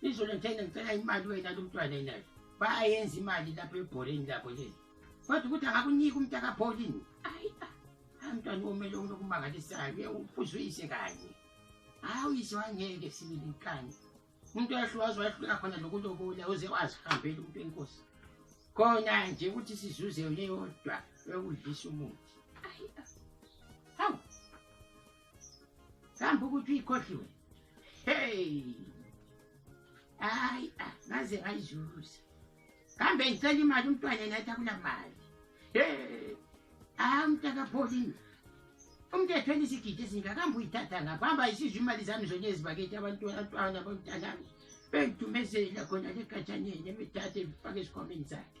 izolo ngithe ngicela imali wena lomntwana enayo bayenza imali lapho ebholeni labo leli kodwa ukuthi akakuniki umntakapholini ayi mntwana omele unokumangalisayo ye uphuze uyise kanye hayi uyise wangeke sibili nkani umuntu wahluwazi wahluleka khona lokulobola uze wazihambela umuntu enkosi khona nje ukuthi sizuze yona eyodwa yokudlisa umuthi ayi hawu sihamba ukuthi uyikhohliwe hey hayi ah, ngaze ngayizuza kambe ngicela imali umntwana nathi akula mali hey hayi ah, umntakapholini umthetho elisigidi esingakambe uyithatha ngapho hamba yisizwe imali zami zonye ezibakethi abantwana abamntanami bengidumezela khona legatshaneni emithatha ebifake esikhwameni zakhe